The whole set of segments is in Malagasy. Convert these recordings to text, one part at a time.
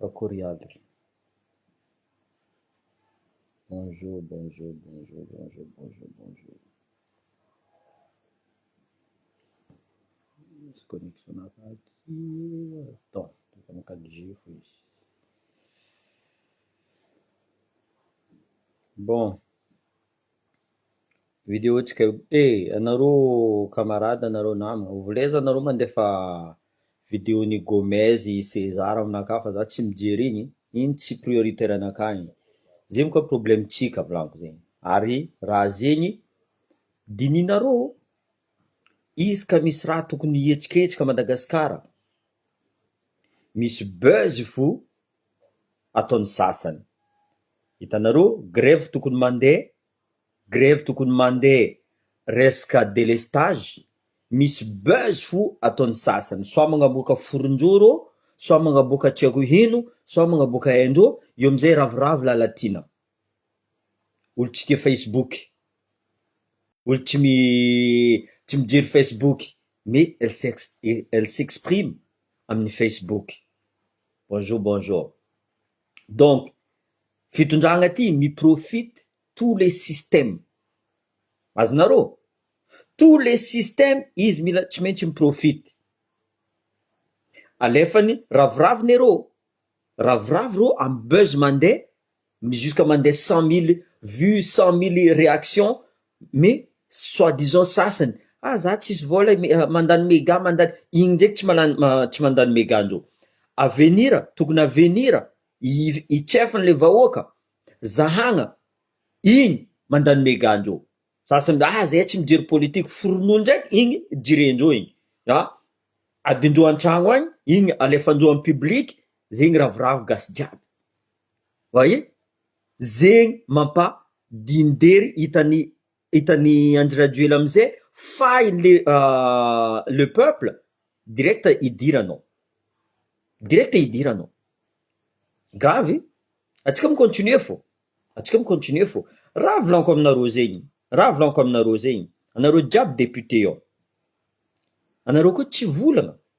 Akory aby. Bonjour bonjour bonjour bonjour bonjour bonjour. Misy connexion hafa aty attends efa am quatre G fo izy. Bon. Video tsika io e anareo camarade anareo namagna oveleza anareo mandefa video ny Gomez i Cesar aminakahy fa za tsy mijery igny igny tsy prioritaire anakahy igny zegny koa problème tsika volaniko zegny ary raha zegny dinihinareo izy ka misy raha tokony hihetsiketsika Madagasikara misy buzz fo. ataon'ny sasany. Hitanareo grevy tokony mandeha, grevy tokony mandeha resaka délestage, misy buzz fo ataon'ny sasany, soit magnaboaka foronjoro, soit magnaboaka tsy haiko ino, soit magnaboaka haindro, eo amizay ravoravo lalatiana. Olo tsy tia facebook, olo tsy mi tsy mijery facebook mais elle s'ex elle s'exprime amin'ny facebook. Bonjour bonjour donc fitondragna ty mi profite tous les systèmes azonareo? Tous les systèmes izy mila tsy maintsy mi profite alefany raviraviny arô raviravy rô am buzz mandeha Jusqu'à mandeha cent mille vues, cent mille réactions mais soit disant sasany ah za tsisy vola e, mandany mega mandany, iny ndreky tsy malany tsy mandany mega ndro. Avenir tokony avenir i chef n'le vahoaka zahagna igny mandany mega ndreo. Sasany ah zahay tsy mijery politique foronoa ndreky igny jirendreo igny a adindreo antragno agny igny alefandreo am public zegny ravoravo gasy jiaby. Vahiny zegny mampa dindery hitan'i hitan'i Andry Rajoela amze fahiny le le peuple direct idiranao direct idiranao gravy atsika mi continuer fô atsika mi continuer fô raha volanko aminareo zegny raha volanko aminareo zegny anareo jiaby depute ao anareo koa tsy volagna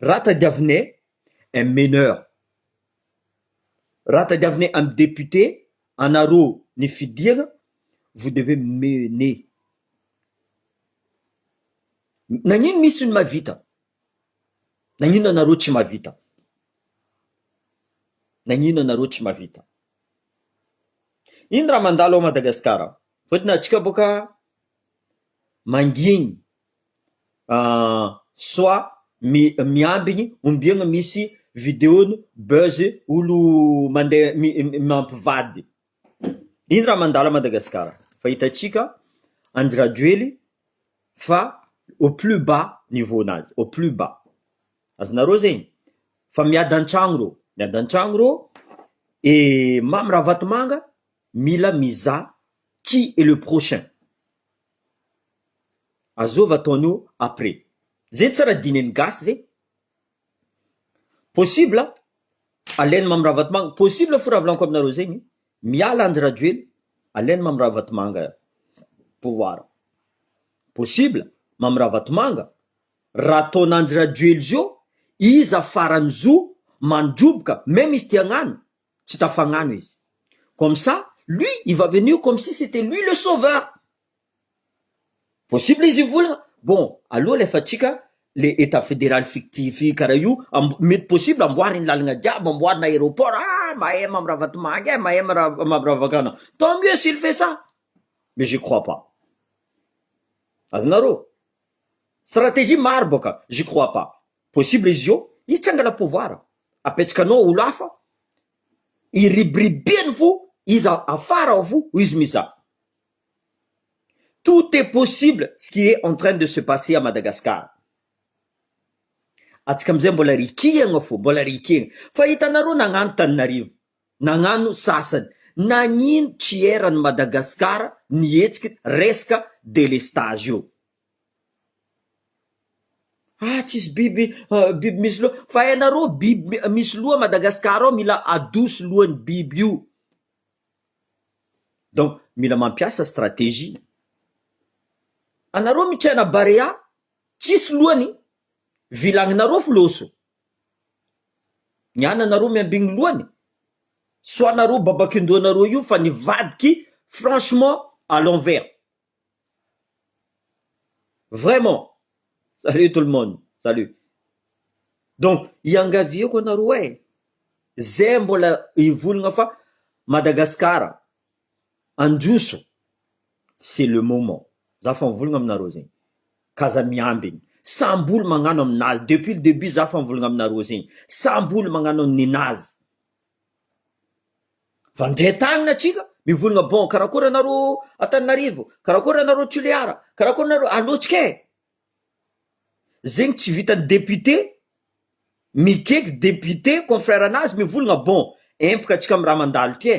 Raha tadiavinay un meneur, raha tadiavinay un député anareo ny fidiana vous devez mener. Nagnino misy ny mahavita? Nagnino anareo tsy mahavita? Nagnino anareo tsy mahavita? Ino raha mandalo ao Madagasikara? Fotony atsika boka mangigny soit mi- miambigny ombiagna misy video-ny buzz olo mandeha mi- mampivady, ino raha mandalo à Madagasikara? Fa hitantsika Andry Rajoely fa au plus bas niveau-nazy, au plus bas, azonareo zegny? Fa miady an-tragno reo, miady an-tragno reo, i Mamy Ravatomanga mila mizaha qui est le prochain. Azova ataon'io après. Zegny tsara dinen'ny gasy zegny. Possible alain'i Mamy Ravatomanga, possible fo raha volaniko aminareo zegny, miala Andry Rajoelina, alain'i Mamy Ravatomanga pouvoir. Possible Mamy Ravatomanga, raha ataon'Andry Rajoely zio, iza farany zo mandroboka, même izy te hagnano, tsy tafagnano izy comme ça lui il va venir comme si c'etait lui le sauveur possible izy hivola bon aloha alefatsika le etat federal fictif karaha io amb- mety possible amboary ny lalagna jiaby amboarina aéroport ah mahay mamy ravatomangy eh mahay mara- mamy ravakana tant mieux s'il fait ça mais j'y crois pas azonareo stratégie maro bôka j'y crois pas possible izy io izy tsy hangala pouvoir apetrakanao olo hafa iribiribeny fo iza afara ao fo hoy izy miza tout est possible ce qui est en train de se passer à Madagascar atsika amizay mbola rikihagna fo mbola rikihagna fa hitanareo nagnano taninarivo nagnano sasany nagnino tsy erany Madagascar ny hetsiky resaka delestage io Ah tsisy biby biby misy loha fa ianareo biby misy loha Madagascar ao mila adoso lohan'ny biby io, donc mila mampiasa strategie, anareo mitsena barea tsisy lohany vilagninareo filoso, ny ananareo miambigny lohany, soanareo babakin-dohanareo io fa nivadiky franchement à l'envers. Vraiment! Salut tout le monde! Salut! Donc iangaviako anareo eh! Zay mbola hivolagna fa Madagascar handroso c'est le moment! Za fa mivolagna aminareo zegny ka aza miambigny! Samby olo magnano aminazy! Depuis le debut za fa mivolagna aminareo zegny! Samby olo magnano ninazy! Vandrintany ny antsika, mivolagna bon karakory anareo Antananarivo, karakory anareo Toliara, karakory anareo alotsika e! zegny tsy vitan'ny député mikeky député confrère anazy mivolagna bon empaka antsika amin'ny raha mandalo ty e!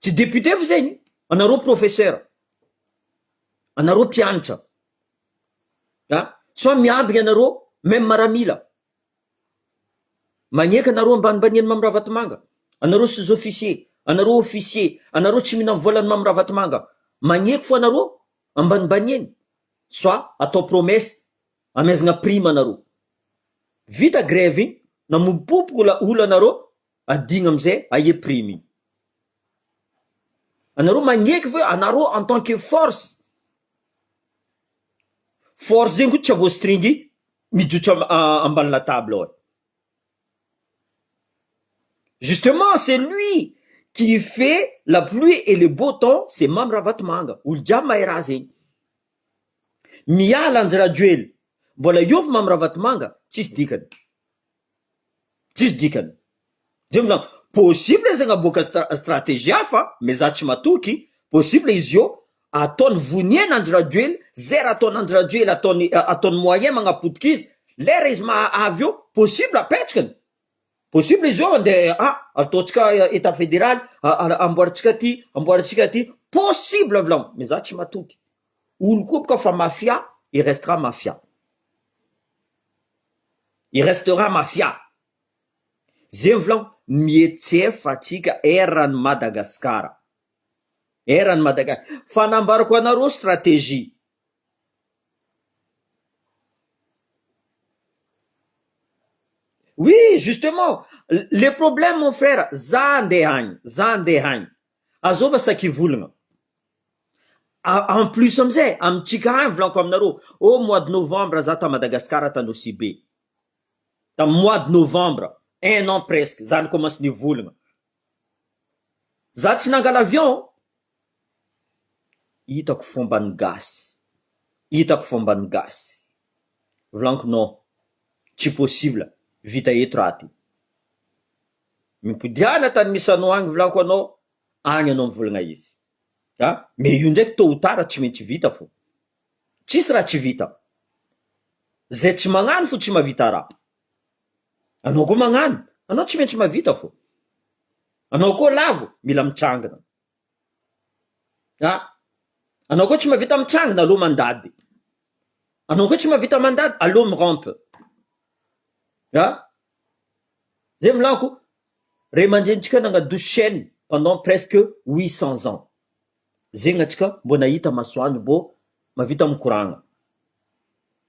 Tsy député fa zegny, anareo professeur, anareo mpianatra, ah soit miambigny anareo même maramila, magneky anareo ambanimbanian'i Mamy Ravatomanga, anareo sous officier, anareo officier, anareo tsy mihinam volan'i Mamy Ravatomanga, magneky fo anareo ambanimbaniany soit atao promesse amezagna prime anareo. vita grève iny na mipopoko la ola anareo adigno amizay aia prime iny anareo magneky ve anareo en tant que force force zegny ko tsy avoastringy mijotso ambany la table ao e justement c'est lui qui fait la pluie et le beau temps c'est mamy ravatomanga olo jiaby mahay raha zegny. Miala andry rajoely mbola hiovy mamy ravatomanga tsisy dikany tsisy dikany zay no zany possible izy hagnaboaka strategie hafa mais za tsy matoky possible izy io ataony voniena andry rajoely zay raha ataony andry rajoely ataony ataony moyen magnapotika izy lera izy mahavy eo possible apetrakany Possible izy io de ah ataontsika etat federaly amboarintsika aty amboarintsika aty possible avy laon mais za tsy matoky olo koa boka fa mafia il restera mafia il restera mafia zay avy laon mihetsefa atsika eran'i Madagasikara eran'i Madaga fa nambarako anareo strategie Oui justement le problème mon frère za andeha any za andeha any azova sakivolagna en plus amizay amitsika any volako aminareo ô mois de novembre za ta Madagascar ta Nosy Be tam mois de novembre un an presque za nikomansy nivolagna. Za tsy nangala avion hitako fomban'ny gasy hitako fomban'ny gasy volaniko non tsy possible vita eto raha ty mipodiana tany misano agny volaniko anao agny anao mivolagna izy a mais io ndraiky tot ou tard tsy maintsy vita fô tsisy raha tsy vita zay tsy magnano fo tsy mahavita raha. Anao koa mañano, anao tsy maintsy mavita fô. Anao koa lavo, mila mitsangana. A! Anao koa tsy mavita mitsangana, aleo mandady. Anao koa tsy mavita mandady, aleo mi-rampe. A! Zay volako, ray aman-drenintsika nañadoso chaîne pendant presque huit cents ans. Zegny antsika mbô nahita masoandro mbô mavita mikoragna.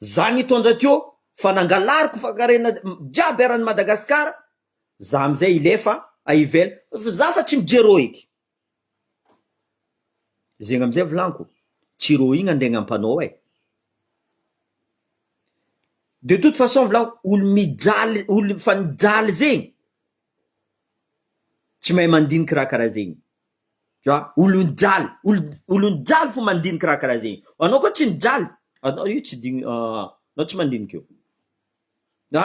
Za nitondra teo fa nangalariko fankarena jiaby eran'i Madagascar za amzay ilefa a ivela fa za fa tsy mijery eo eky zegny amzay volaniko tsy reo igny andegna ampanao e de toute façon volaniko olo mijaly olo fa mijaly zegny tsy mahay mandiniky raha karaha zegny. Ka olon jaly olon olon jaly fo mandinika raha karaha zegny anao koa tsy ny jaly anao io tsy digny aa anao tsy mandinika io a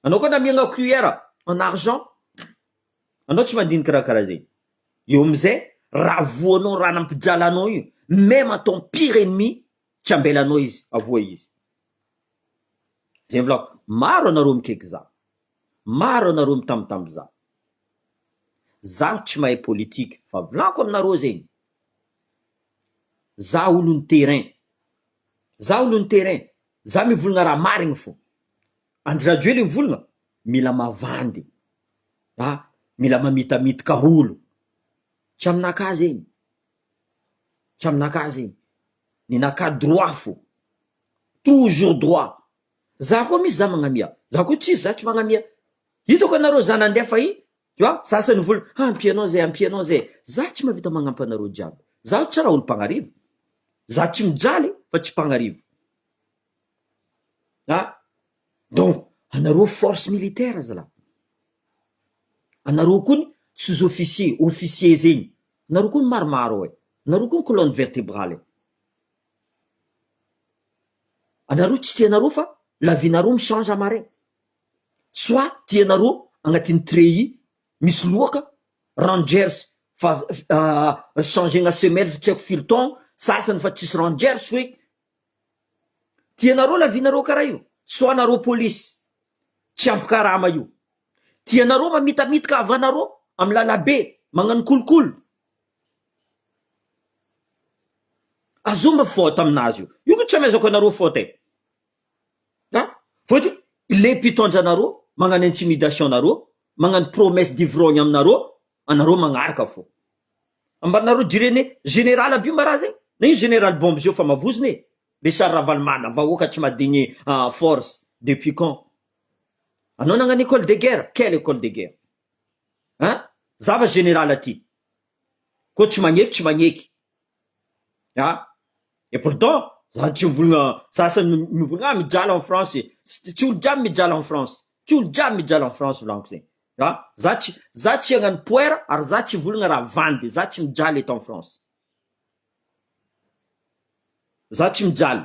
anao koa namiagna cuillère en argent anao tsy mandinika raha karaha zegny eo amizay raha voa anao raha nampijaly anao io meme à ton pire ennemi tsy ambela anao izy avoa izy zay volako maro anareo mikaiky za. Maro anareo mitambitamby za. Zaho tsy mahay politique fa vlanko aminareo zegny. Za olon'ny terrain. Za olon'ny terrain. Za mivolagna raha marigny fô. Andry Rajoely mivolagna mila mavandy. A, mila mamitamitika olo. Tsy aminakahy zegny. Tsy aminakahy zegny. Ninakahy droit fô. Toujours droit. Za koa misy za magnamia. Za koa tsisy za tsy magnamia. Hitako anareo za nandeha fahiny tu vois za asany vola ha ampia anao zay ampia anao zay. Za tsy mahavita magnampy anareo jiaby. Zaho tsy raha olo mpagnarivo. Za tsy mijaly fa tsy mpagnarivo. Ha donc anareo force militaire zalahy. Anareo koa ny sous officier, officier zegny. Anareo koa ny maromaro e. Anareo koa ny colonne vertebrale e. Anareo tsy tianareo fa la vie nareo mi change en marin soit tianareo agnatin'ny treillis misy loaka rangers fa changegna semelle fa tsy haiko firy taogno sasany fa tsisy rangers feky tianareo la vie nareo karaha io soit nareo polisy tsy ampy karama io tianareo mamitamitika havanareo amy lalabe magnano kolikoly Azony ny faute amin'azy io. Io ko tsy amezako anareo faute e. A! Faute io le mpitondra anareo magnano intimidation anareo, magnano promesse d'ivrognes aminareo, anareo magnaraka fô. Ambaninareo jirene général aby io mba raha zegny, na io général bombe zio fa mavozona e. Richard Ravalomanana, vahoaka tsy madigny force depuis quand? Anao nagnano école de guerre? Quelle école de guerre? An! zava général aty ko tsy magneky tsy magneky an! et pourtant za tsy mivolagna za sa mivolagna ah mijaly en France e! tsy olo jiaby mijaly en France tsy olo jiaby mijaly en France volagniko zegny an! za tsy za tsy agnano poer ary za tsy hivolagna raha vandy za tsy mijaly eto en France za tsy mijaly.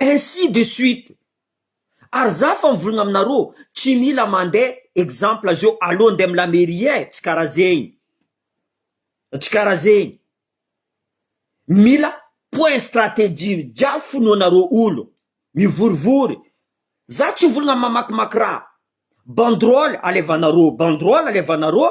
Ainsi de suite ary za fa mivolagna aminareo tsy mila mande exemple zeo aleo nde am la mairie e tsy kara zegny tsy kara zegny mila point strategie jiaby fonoanareo olo mivorivory za tsy mivolagna mamakimaky raha banderole alevanareo banderole alevanareo.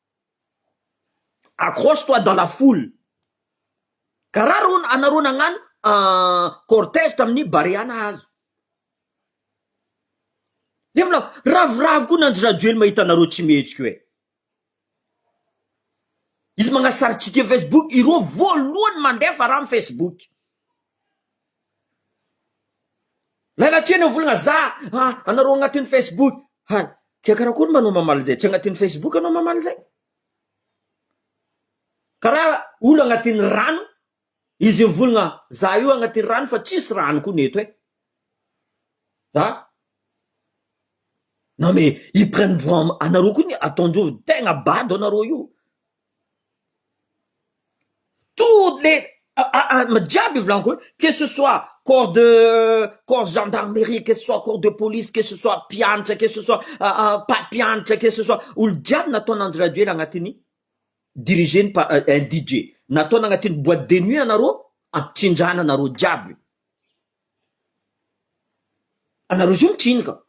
Accroche toi dans la foule ka ra ro anareo nagnano cortège tamin'ny barea nahazo zay volako ravoravo koa n'Andry Rajoely mahita anareo tsy mihetsika hoe izy magnasary tsike facebook ireo voalohany mandefa raha am facebook. Miala tsiny ny volagna za anareo agnatin'ny Facebook any ke karakory ma anao mamaly zay tsy agnatin'ny Facebook anao mamaly zay karaha olo agnatin'ny rano izy mivolagna za io agnatin'ny rano fa tsisy rano koa ny eto e a non mais ils prennent vraiment anareo koa ny ataondreo tegna bado anareo io Toutes les ah jiaby io volaniko io que ce soit corps de corps gendarmerie que ce soit corps de police que ce soit mpianatra que ce soit mpampianatra que ce soit olo jiaby nataon' Andry Rajoelina anatin'ny dirigeny par un DJ nataony anatin'ny boite de nuit anareo ampitsindrana anareo jiaby io anareo zao mitriny ka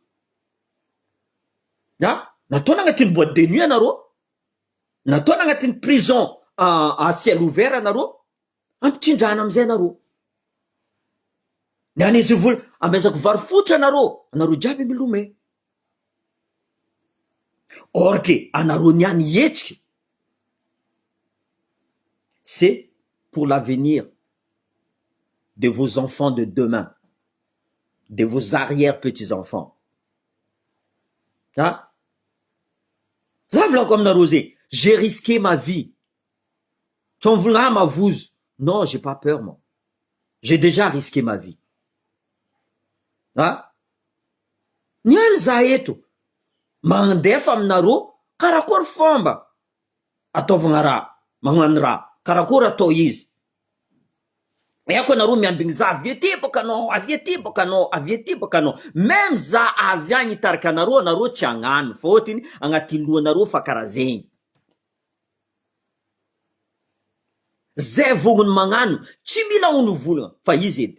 ah nataony anatin'ny boite de nuit anareo. Nataona agnatin'ny prison à ciel ouvert anareo, ampitrindrana amizay anareo. Ny an'izy vola amezako vary fotra anareo, anareo jiaby milome. Or que anareo niany hihetsiky c'est pour l'avenir de vos enfants de demain, de vos arrière petits enfants. An! Za volako aminareo zay, j'ai risqué ma vie, tsy ho mivola ahy mavozo, non j'ai pas peur moi, j'ai dejà risqué ma vie, an! Miala za eto, mandefa aminareo karakory fomba ataovagna raha, magnano raha, karakory atao izy, Aiko anareo miambigny za avy aty bôka anô avy aty bôka anô avy aty bôka anô meme za avy agny hitarika anareo anareo tsy agnano fa ôtriny agnaty lohanareo fa kara zegny zay vôgno ny magnano tsy mila onovolagna fa izy edy.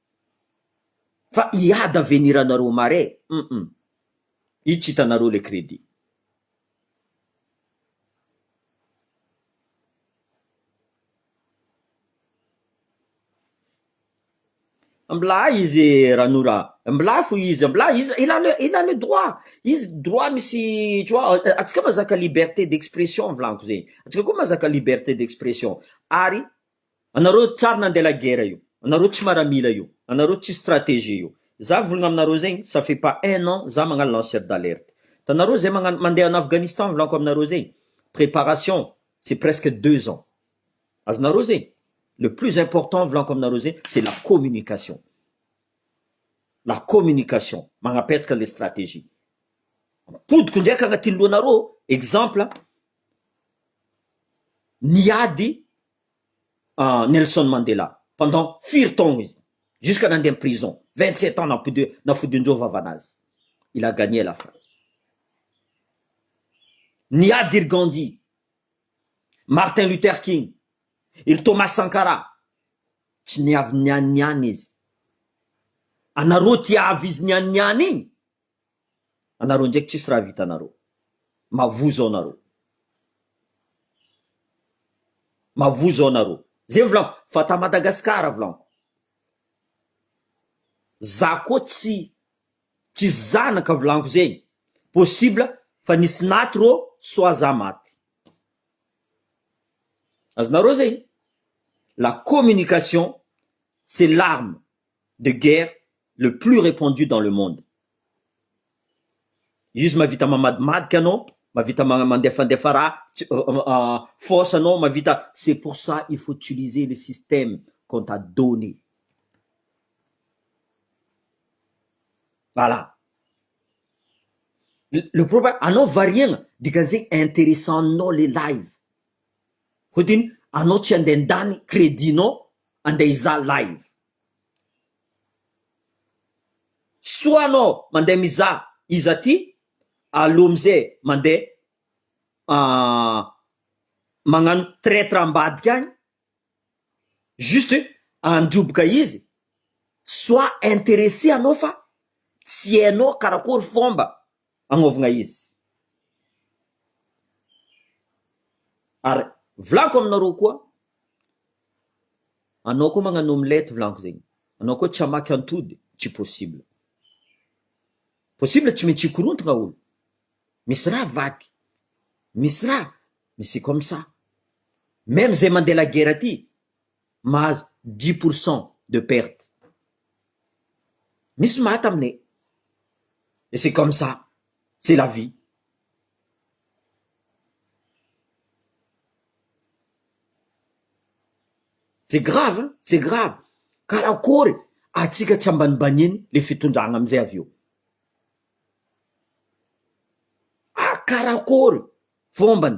Fa hiady avenir anareo mare hum itsy hitanareo le credit. Mblà izy Ranora a! Mblà fo izy, mblà izy il a le il a le droit, izy droit misy tu vois antsika mazaka liberté d'expression volagno zegny, antsika koa mazaka liberté d'expression ary Anareo tsary nandeha la guerre io, anareo tsy maramila io, anareo tsy strategie io, za volagna aminareo zegny ça fait pas un an za magnano lanceur d'alerte, hitanareo zay magnano mandeha en Afghanistan volako aminareo zegny préparation c'est presque deux ans, azonareo zegny, le plus important volako aminareo zegny c'est la communication, la communication magnapetraka le strategie, ampodiko ndraiky agnatin'ny lohanareo exemple ny ady Nelson Mandela pendant firy taona izy jusqu'à nandeha prison vingt sept ans nampodiho nafodian-jo vavana azy il a gagne la fin ny ady iry Gandhi Martin Luther King iry Thomas Sankara tsy niavy niany niany izy anareo tiavy izy niany niany iny Anareo ndraiky tsisy raha vitanareo. Mavozo ao nareo. Mavozo ao nareo. Zay volagno fa ta Madagascar volagno. Za koa tsy tsy zanaka volagno zegny. Possible fa nisy naty rô soit za maty. Azonareo zegny? La communication c'est l'arme. de guerre le plus repandu dans le monde izy mahavita mamadmadika anao mahavita mandefandefa raha tsy force anao mahavita c'est pour ça il faut utiliser le système qu'on t'a donne voilà le problème anao variegna dikan'izay interessant anao le live hotiny anao tsy handeha handany credit-nao Andeha hizaha live. Soit anao mandeha mizaha izy aty, aleo am'zay mandeha magnano traitre ambadika agny, juste handroboka izy, soit interesser anao fa tsy hainao karakory fomba Agnovagna izy. Ary volako aminareo koa, anao koa magnano omelette volaniko zegny, anao koa tsy hamaky antody tsy possible. Possible tsy maintsy hikorontagna olo, misy raha vaky, misy raha, mais c'est comme ça. Meme zay mandeha lagera ty, mahazo dix pour cent de perte misy maty aminay et c'est comme ça c'est la vie. C'est grave an, c'est grave, karakory atsika tsy ambanibaniny le fitondrana amizay avy eo? Karakory fombany?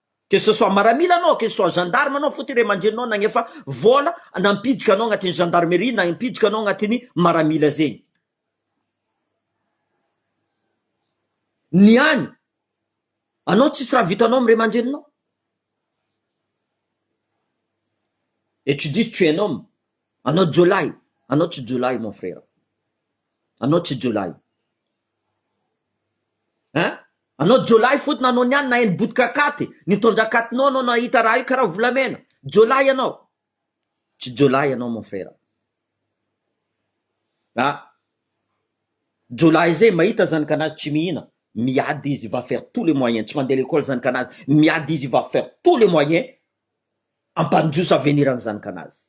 Que ce soit maramila anao, que ce soit gendarme anao, fotony ray aman-dreninao nagnefa vola nampidika anao agnatin'ny gendarmerie, nampidika anao agnatin'ny maramila zegny. Ny any, anao tsisy raha vitanao amin'ny ray aman-dreninao. Et tu dis tu es un homme, anao jiolahy, anao tsy jiolahy mon frère, anao tsy jiolahy. Hein? Anao jiolahy fotony nanao ny any naheno botika katy nitondra katinao anao nahita raha io karaha volamena. Jiolahy ianao. Tsy jiolahy ianao mon frère. A! Jiolahy zay mahita zanakanazy tsy mihina miady izy va faire tous les moyens tsy mandeha lekôly zanakanazy miady izy va faire tous les moyens ampandroso avenir ny zanakanazy.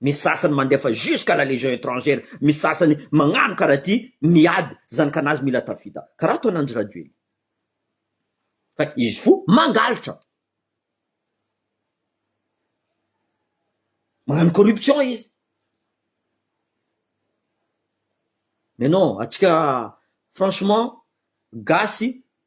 Misy sasany mandefa jusqu'à la légion étrangère, misy sasany magnano karaha ity miady zanakanazy mila tafita karaha ataon Andry Rajoely fa izy fo mangalitra magnano corruption izy mais non atsika franchement gasy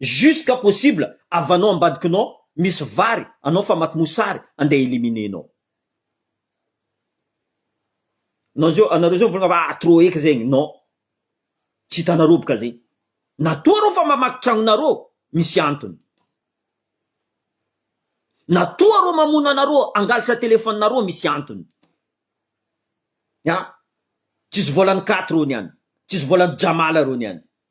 Jusqu'à possible havanao ambadikinao misy vary anao famaky mosary andeha eliminer nao. Nao zao anareo zao mivolagna fa ah trop eky zegny non tsy hitanareo boka zegny na toa reo fa mamaky tragnonareo misy antony na toa reo mamono anareo angalatra téléphone nareo misy antony ah tsisy volan'i katy reo niany tsisy volan'i jamala reo niany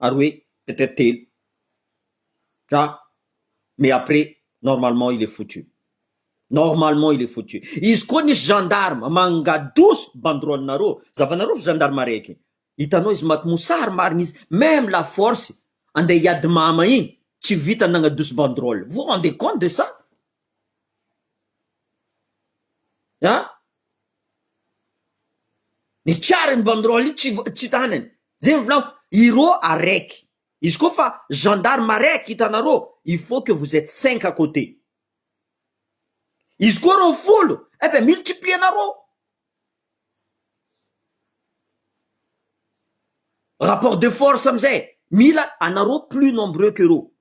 ary hoe peut être telo dra mais après normalement il est foutu normalement il est foutu izy koa nisy gendarme mangadosy banderole nareo zavanareo fa gendarmerie ake hitanao izy maty mosary marigny izy meme la force andeha hiady mama igny tsy vita nagnadosy banderole vous rendez compte de ça an Ny tsary ny banderole tsy hita any any zay ny volako ireo araiky izy koa fa gendarme araiky hitanareo il faut que vous etes cinq à cote izy koa reo folo eh be multiplier nareo rapport de force amizay mila anareo plus nombreux que reo.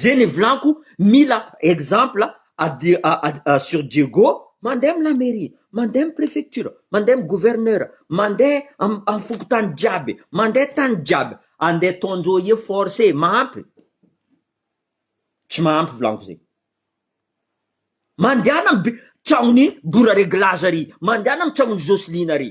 Ze nivolako mila exemple sur Diego mande am la mairie, mande am prefecture, mande am gouverneur, mande am fokontany jiaby, mande tany jiaby, ande ataondreo efforts e, mahampy? Tsy mahampy volako ze, mandehana am tragnoni Bora reglage ary, mandehana am tragnoni Joseline ary.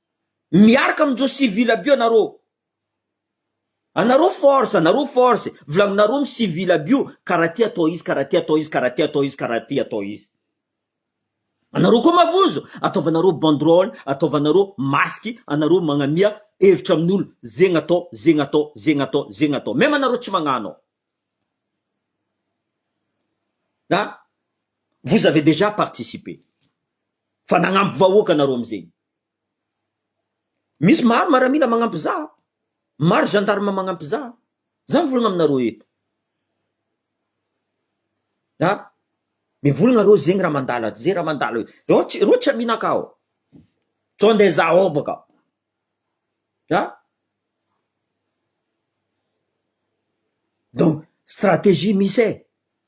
Miaraka amin'ireo civil aby eo anareo. Anareo force, anareo force, volaninareo amin'ny civil aby io, karaha ty atao izy, karaha ty atao izy, karaha ty atao izy, karaha ty atao izy. Anareo koa mavozo, ataovanareo banderole, ataovanareo masque, anareo magnamia hevitra amin'olo, zegny atao, zegny atao, zegny atao, zegny atao. Même anareo tsy magnano. An? Vous avez déjà participé. Fa nagnampy vahoaka anareo amizegny. Misy maro maramila magnampy za, maro gendarme magnampy za, za mivolagna aminareo eto, a mivolagna areo zegny raha mandalo aty ze raha mandalo e, reo tsy reo tsy aminakà ô, sao nde za ao bôka, a donc strategie misy e.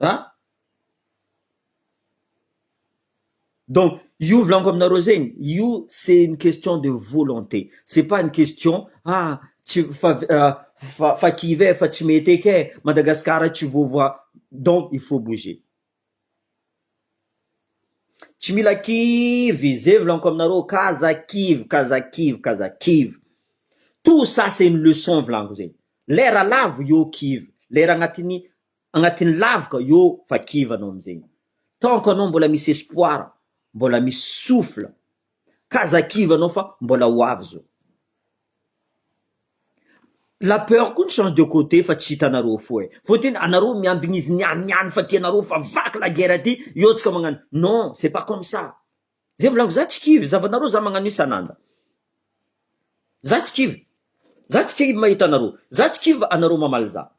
An? Donc io volaniko aminareo zegny, io c'est une question de volonté, c'est pas une question ah tsy fa fa fa kivy e, fa tsy mety eky e, Madagasikara tsy voavoa, donc il faut bouger. Tsy mila kivy zevy laniko aminareo kaza kivy kaza kivy kaza kivy tout ça c'est une leçon vilaniko zay lera lavo eo kivy lera agnatin'ny agnatin'ny lavoka eo fa kivy anao amizay tant que anao mbola misy espoir mbola misy souffle. Ka aza kivy anao fa mbola ho avy zao. La peur koa ny change de côté fa tsy hitanareo fo eh. Vao tena anareo miambigny izy niany niany fa tianareo fa vaky la guerre ty eo tsika magnano non c'est pas comme ça. Zay volaniko za tsy kivy zavanareo za magnano isan'anda. Za tsy kivy. Za tsy kivy mahita anareo. Za tsy kivy anareo mamaly za.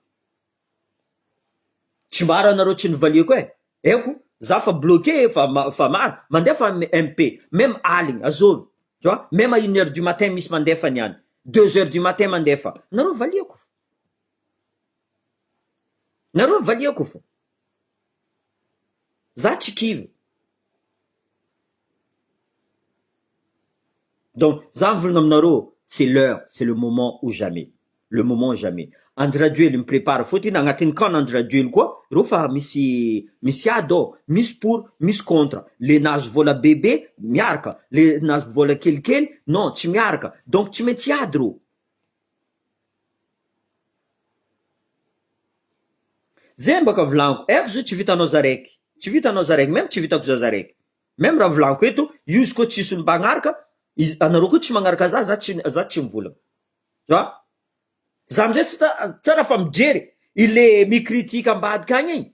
Tsy maro anareo tsy nivaliako eh! Eko za fa bloqué fa fa maro mandefa an MP meme aligny azôvy tu vois meme à une heure du matin misy mandefa ny any deux heures du matin mandefa nareo valiako fa nareo valiako fa za tsy kivy. Donc za mivolagna aminareo c'est l'heure, c'est le moment ou jamais, le moment jamais, Andry Rajoely mi-prépare fotiny, agnatin'ny camp n'Andry Rajoely koa reo fa misy misy ady ao, misy pour, misy contre, le nahazo vola bebe miaraka, le nahazo vola kelikely non tsy miaraka, donc tsy maintsy hiady reo. Zeny baka vilaniko aiko zao tsy vitanao za raiky tsy vitanao za raiky meme tsy vitako za za raiky meme raha vilaniko eto io izy koa tsisy olo mpagnaraka izy anareo koa tsy magnaraka za za tsy za tsy mivolagna tu vois za amizay tsy ta- tsara fa mijery i le mi-critique ambadika agny igny.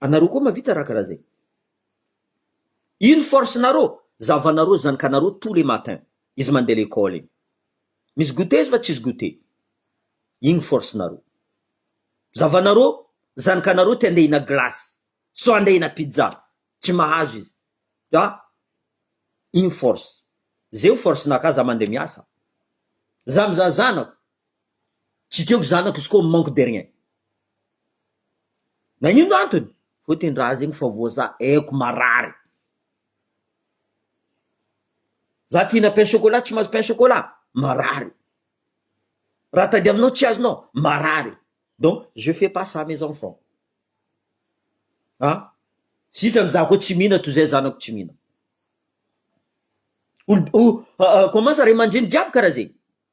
Anareo koa mavita raha karaha zay. Ino force nareo? Zavanareo zanakanareo tous les matins izy mandeha lekole iny. Misy goûter izy fa tsisy goûter. Ino force nareo? Zavanareo zanakanareo te handeha hihina glace so handeha hihina pizza tsy mahazo izy ka ino force? Zeo force naka za mandeha miasa. Za mizaha zanako. Tsy tiako zanako izy koa manque de rien. Nagnino antony? Hoy ty ndra zegny fa voa za aiko marary. Za ty hihina pain chocolat tsy mahazo pain chocolat, marary. Raha tadiavinao tsy azonao, marary. Donc je fais pas ça mes enfants. An! Sitrany za koa tsy mihina toy zay zanako tsy mihina. Olo, comment ça ray aman-dreny jiaby karaha zegny.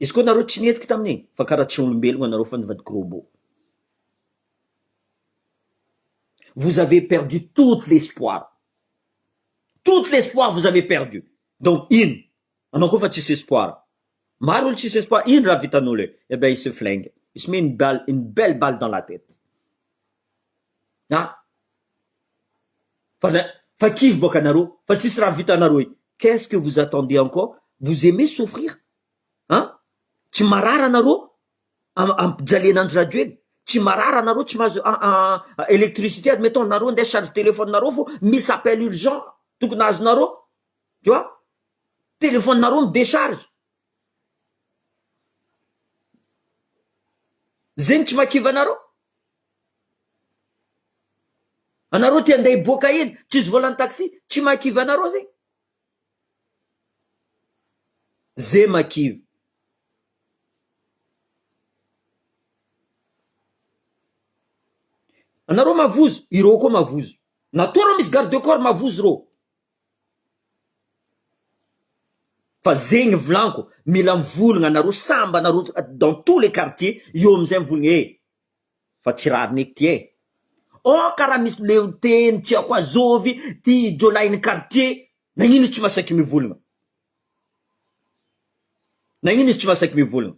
Izy koa nareo tsy nihetsika tamin'iny fa karaha tsy olombelogna anareo fa nivadika robot. Vous avez perdu toute l'espoir. Toute l'espoir vous avez perdu. Donc ino? Anao koa fa tsisy espoir. Maro olo tsisy espoir. Ino raha vitan'olo eo? Eh ben il se flingue. Il se met une balle, une belle balle dans la tête. An! Fa za, fa kivy boka nareo, fa tsisy raha vitanareo e, qu'est ce que vous attendez encore, vous aimez souffrir an, tsy marary anareo am- ampijaliana Andry Rajoelina, tsy marary anareo tsy mahazo a- a- a- électricité admettons nareo ndeha charge téléphone nareo fo misy appel urgent tokony azonareo tu vois, téléphone nareo mi décharge, zegny tsy makivanareo. Anareo te handeha hiboaka eny, cus volant taxi, tsy mahakivy anareo zegny? Ze mahakivy. Anareo mavozo, ireo koa mavozo. Na toa reo misy garde du corps mavozo reo. Fa zegny volanko, mila mivolagna anareo samby anareo dans tous les quartiers, eo amizay mivolagna eh. fa tsy rariny ety e! Oh ka raha misy leo teny tsy ako azovy ty jiolahy ny quartier nagnino izy tsy masaiky mivolagna? Nagnino izy tsy masaiky mivolagna?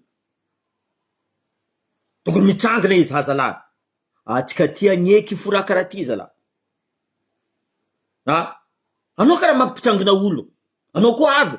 Tokony mitsangana izy ha zalahy antsika ty agneky fo raha karaha ty zalahy a! Anao ka raha mampitsangana olo anao koa avy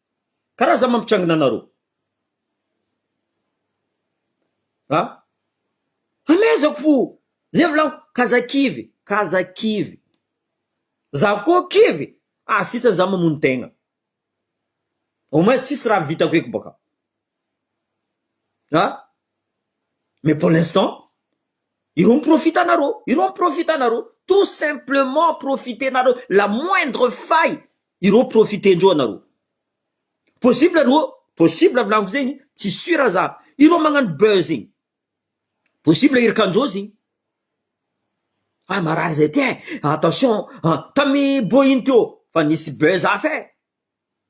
Ka raha za mampitrangina anareo a hamehezako fo zay volako ka za kivy ka za kivy za koa kivy ah sitrany za mamono tegna au moins tsisy raha vitako eky baka a mais pour l'instant ireo miprofita anareo ireo miprofita anareo tout simplement profiter-nareo la moindre faille Ireo profite ndreo anareo. Possible ry oh, possible vlaniko zegny, tsy sur za. Ireo magnano buzz igny. Possible irka ndreo zegny. Ah marary zay ty eh, attention ah, tamy boeing teo fa nisy buzz hafa eh.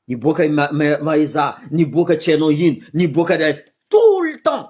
Niboaka i ma- ma- maeza, niboaka tsy hainao ino, niboaka eh, tout le temps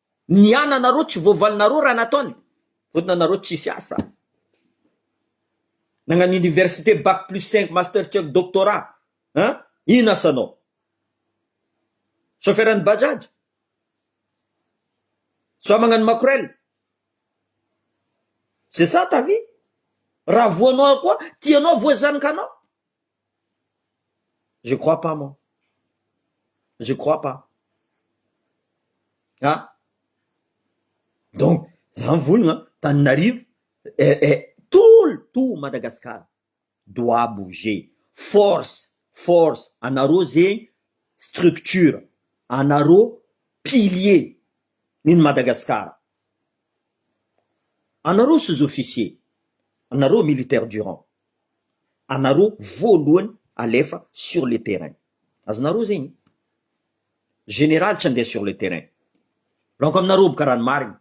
Ny ananareo tsy voavalinareo raha nataony vonona anareo tsisy asa nagnano université bac plus cinq master check doctorat hein ino asanao chauffeur ny bajaj soit magnano makorel c'est ça ta vie raha voanao koa tianao voazanika anao Je crois pas moi. Je crois pas. Ah. Donc, zany volagna taninarivo eh, eh, tout le tout Madagascar doit bouger. Force, force, anareo zegny structure, anareo pilier n'ny Madagasikara. Anareo sous officiers, anareo militaires durant, anareo voalohany alefa sur le terrain. Azonareo zegny? Général tsy andeha sur le terrain. Donc aminareo aby karaha ny marigny.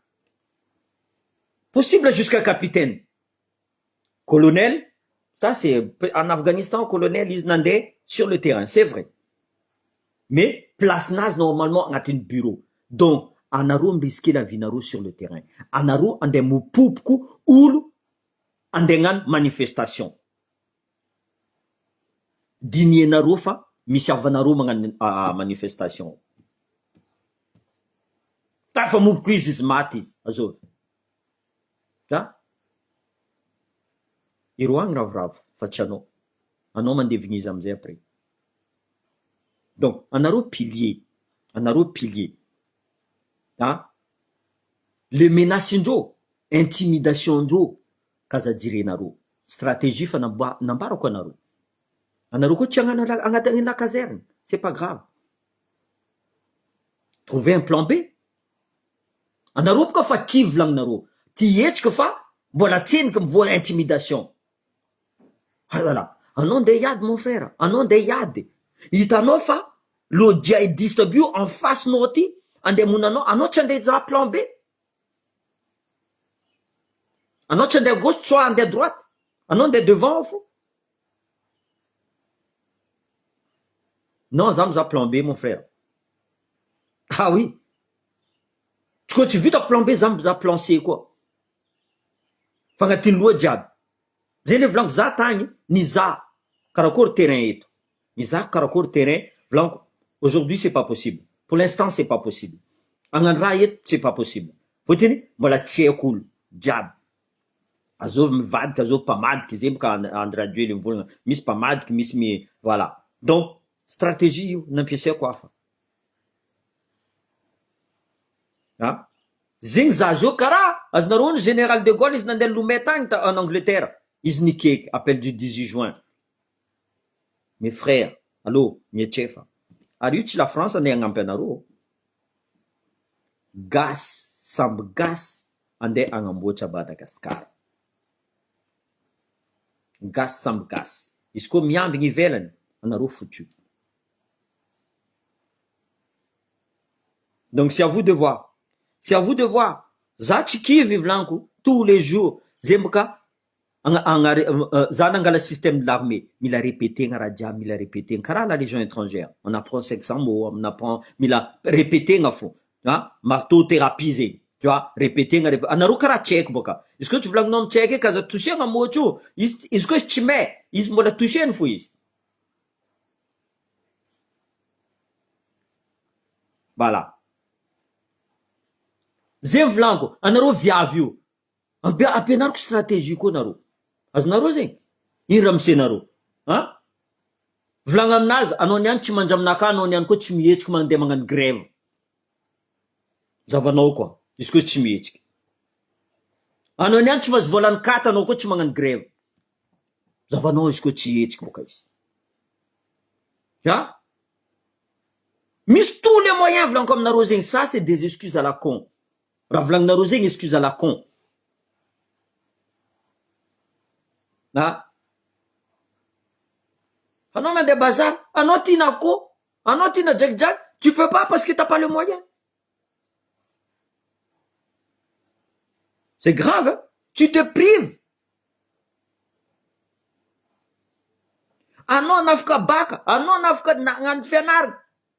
Possible jusqu'à capitaine. Colonel, ça c'est en Afghanistan colonel izy nandeha sur le terrain c'est vrai mais place-nazy normalement agnatin'ny bureau donc anareo mi-risquer la vie-nareo sur le terrain anareo andeha mipoboko olo andeha agnano manifestation dinienareo fa misy havanareo magnano manifestation tafamoboko izy izy maty izy azovy. Ka ireo any ravoravo fa tsy anao. Anao mandevigniza amizay après. Donc anareo pilier, anareo pilier a! Le menace-ndreo, intimidation-ndreo k'aza jirenareo. Stratégie fa namb- nambarako anareo. Anareo koa tsy hagnano la- agnatiny la caserne, c'est pas grave. Trouvez un plan B Anareo boka fa kivy lang nareo tia hetsika fa mbola tseniky mivoa intimidation Alala anao ndeha hiady mon frère anao ndeha hiady hitanao fa lo djihadiste aby io en face nao aty andeha hamono anao anao tsy andeha hizaha plan B anao tsy andeha à gauche soit andeha à droite anao ndeha devant ao fo. Non za mizaha plan B mon frère ah oui ko tsy vitako plan B za mizaha plan C koa fagnatin'ny loha jiaby zay ndray volaniko za tagny nizaha karakory terrain eto nizaha karakory terrain volaniko aujourd'hui c'est pas possible pour l'instant c'est pas possible agnano raha eto c'est pas possible fôtiny mbola tsy haiko olo jiaby. Azovy mivadika azovy mpamadika izay boka Andry Rajoely mivolagna misy mpamadika misy mi voilà donc stratégie io nampiasaiko hafa a zegny za zao kara azonareo ny général de Gaulle izy nandeha Lomé tagny ta en Angleterre izy nikaiky appel du 18 juin mes frères allo mietsefa ary io tsy la France andeha hagnampy anareo gasy samby gasy Andeha agnamboatra Madagascar. Gasy samby gasy. Izy koa miambigny ivelany, anareo foutu. Donc c'est à vous de voir. C'est à vous de voir. Za tsy kivy vlaniko, tous les jours, zay mboka Za nangala système de l'armée, mila repetegna raha jiaby, mila repetegna karaha la légion étrangère, on apprend sexe en mots, on apprend, mila repetegna fô, an, marteau thérapie zegny, tu vois, repetegna rep- anareo karaha tsy haiko bôka, izy koa tsy volagninao amy tsy haiko eky aza toucher-na mots io, izy t- izy koa izy tsy may, izy mbôla toucher-ny fô izy. Voilà, zegny volaniko, anareo viavy io, Ampi- ampianariko stratégie koa nareo. Azonareo zegny? Iny ramose nareo. A! Volagno aminazy, anao niany tsy mandraminakà, anao niany koa tsy mihetsiky mandeha magnano grève. Zavanao koa, izy koa tsy mihetsiky. Anao niany tsy mahazo voalan'ny cate, anao koa tsy magnano grève. Zavanao izy koa tsy hihetsiky boka izy. A! Misy tous les moyens volaniko aminareo zegny, ça c'est des excuses à la con. Raha volaninareo zegny excuse à la con a! Anao mandeha bazar, anao tia na akoho, anao tia na drakidraky, tu peux pas parce que t'as pas le moyen. C'est grave hein! Tu te prives. Anao anafaka baka, anao anafaka nagnano fianarana,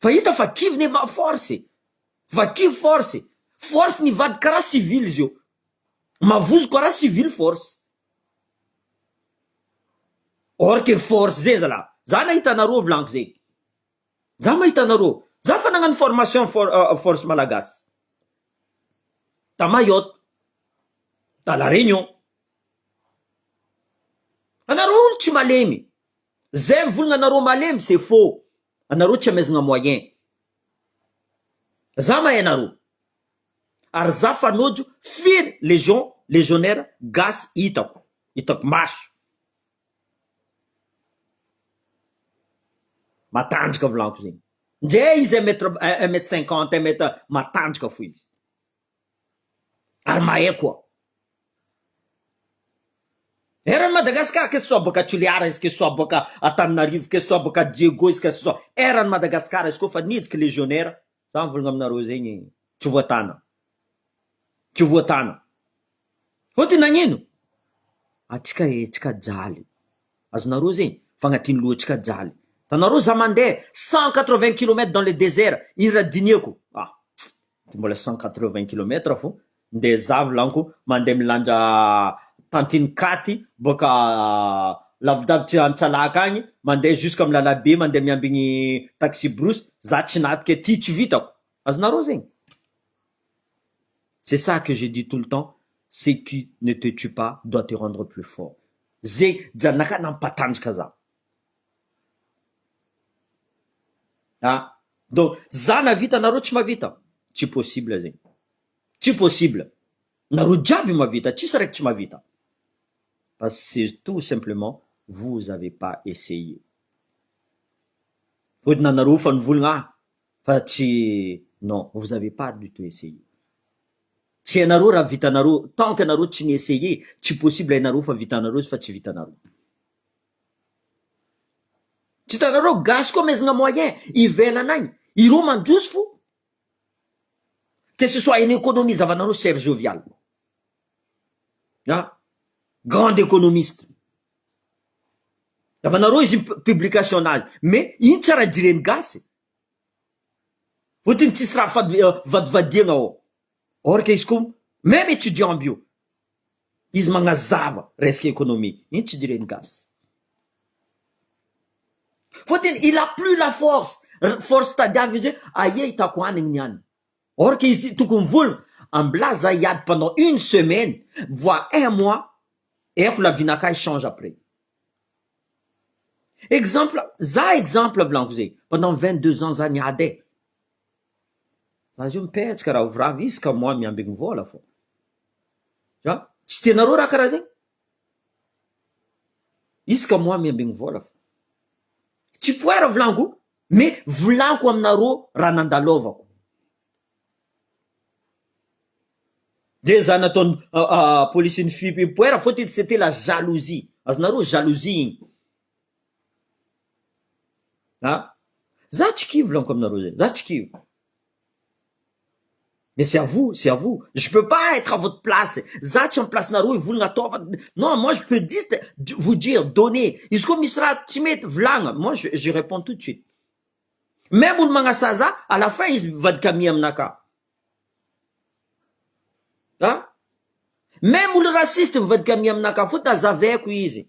Fa hita fa kivy ny ma force e! Fa kivy force e! Force nivadika karaha civil izy io! Mavozo karaha civil force! Or que force zay zalah! Za nahita anareo volagno zay! Za mahita anareo! Za fa nagnano formation for force malagasy! Ta Mayotte! Ta la Réunion! Anareo olo tsy malemy! Zay mivolagna anareo malemy c'est faux anareo tsy amezagna moyen za mahay anareo ary za fanojo firy legion legionnaire gasy hitako hitako maso matanjaka volagno zegny ndre izy un mètre un mètre cinquante un mètre matanjaka fo izy. ary mahay koa. Eran'i Madagascar que ce soit bôka Toliara izy que ce soit bôka Antananarivo que ce soit bôka Diego izy que ce soit eran'i Madagascar izy koa fa nihidiky legionnaire za mivolagna aminareo zegny tsy voatana tsy voatana fôtony nagnino atsika e tsika jaly azonareo zegny fa agnatin'ny lohantsika jaly tanareo za mandeha cent quatre vingt kilomètre dans le désert izy raha dinieko ah Dia mbola cent quatre-vingts kilomètres vao ndeha zavo lanko mandeha milanja tantine katy boaka lavidavitry antsalaka agny mandeha jusque am lalabe mandeha miambigny taxi brousse za tsy natoky e ty tsy vitako azonareo zegny c'est ça que je dis tout le temps ce qui ne te tue pas doit te rendre plus fort ze janaka nampatanjaka za Ah donc za navita nareo tsy mavita? Tsy possible zegny, tsy possible, nareo jiaby mavita tsisy raiky tsy mavita fa c'est tout simplement vous avez pas essayer, fôtony anareo efa nivolagna ah fa tsy non vous avez pas du tout essayer, tsy hainareo raha vitanareo tant que anareo tsy ni-essayer tsy possible hainareo fa vitanareo izy fa tsy vitanareo. Tsy hitanareo gasy koa mezgna moyen ivelana agny ireo mandroso fo que ce soit en economie zavanareo cher jovial a grand economiste zavanareo izy io publication nazy mais ino tsy raha jireny gasy fotony tsisy raha fadin- vadivadiagna ao. Or que izy ko meme étudiant bio izy magnazava resaka économie ino tsy direny gasy. Fa tena il a plus la force force tadiaviny izy hoe aia hitako hanigny ny any or que izy tokony vola ambilà za hiady pendant une semaine voire un mois eko la vie nakahy change après. Exemple za exemple vilaniko zay pendant vingt deux ans za niady e. Za zao mipetsaka ravoravo izy ka moi miambigny vola fô. An, tsy tianareo raha karaha zegny? Izy ka moi miambigny vola fô. Tsy poids raha volaniko me volaniko aminareo raha nandalôvako. De za nataony polisy ny fipoera fô ty tsy te la jalousie, azonareo jalousie igny. An! Za tsy kivy laniko aminareo zay, za tsy kivy. Mais c'est à vous, c'est à vous, je peux pas être à votre place, za tsy am place-nareo hivolagna atao fa non moi je peux juste vous dire donner, izy koa misy raha tsy mety volagna moi je je reponds tout de suite, meme olo magnasaha za à la fin izy mivadika mia aminakahy, an! meme olo raciste mivadika mia aminakahy fô tazavaiko izy.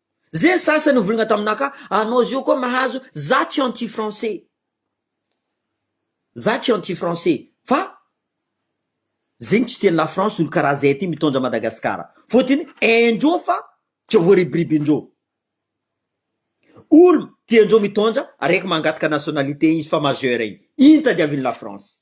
Ze sasany ovirina taminah ka anao zio koa mahazo za tsy anti français za tsy anti français fa zegny tsy tian'i la France olo karaha zay ty mitondra Madagascar fotony haindreo fa tsy voaribiribindreo olo tiandreo mitondra araiky mangataka nationalité izy fa majeur igny iny tadiavin'i la France.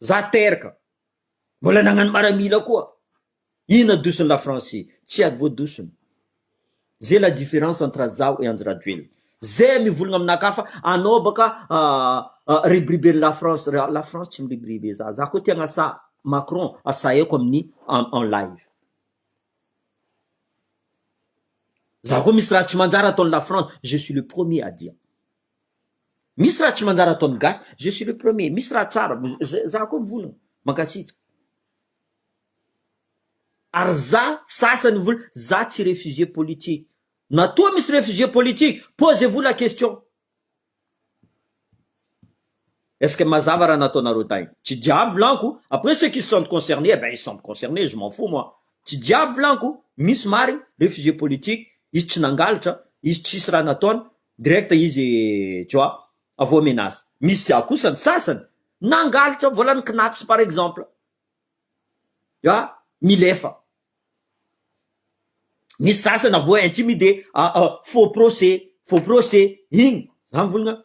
Za teraka. Mbola nagnano maramila koa. Inona dosony la France? Tsy ady voadosony. Zay la difference entre zaho et Andry Rajoelina. Zay mivolagna aminakafa anao baka ribiriben'i la France. La France tsy miribiribe za. Za koa te agnasa Macron asaiko amin'ny en live. Za koa misy raha tsy manjary ataon'i la France, je suis le premier à dire. Misy raha tsy manjary ataon'ny gasy, je suis le premier, misy raha tsara, za koa mivolagna, mankasitraka. Ary za sasany vola, za tsy réfugié politique, na toa misy réfugié politique, posez-vous la question. Est-ce que mazava raha nataonareo tay? Tsy diable lanko, après ceux qui se sentent concernés, eh ben ils se sentent concernés, je m'en fous moi. Tsy diable lanko, misy marigny, réfugié politique, izy tsy nangalatra, izy tsisy raha nataony, direct izy tu vois, avô menace. Misy ah kosa ny sasany, nangalatra vola ny cnaps par exemple, ya, milefa. Misy sasany avô intimidé, ah ah, faux procès, faux procès, igny, za mivolagna,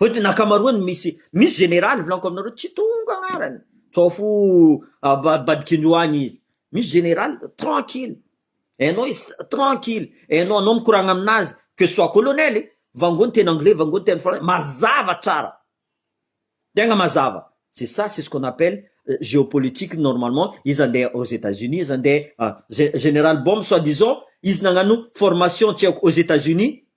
Ve tena ankamaroany misy misy général volaniko aminareo tsy tonga agnarany sao fo abadikinjo agny izy misy général tranquille hainao izy tranquille hainao anao mikoragna aminazy que ce soit colonel e vangony teny anglais vangony teny français mazava tsara tegna mazava c'est ça c'est ce qu'on appelle géopolitique normalement izy andeha aux etats unis izy andeha général bombe soit disant izy nagnano formation tsy haiko aux etats unis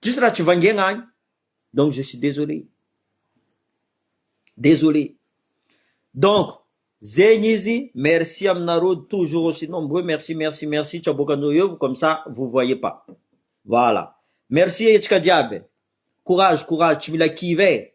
Tsisy raha tsy vangiagna agny donc je suis désolé désolé donc zegny izy merci aminareo toujours aussi nombreux merci merci merci tsy aboakanao eo comme ça vous voyez pas voilà merci e antsika jiaby e courage courage tsy mila kivy e.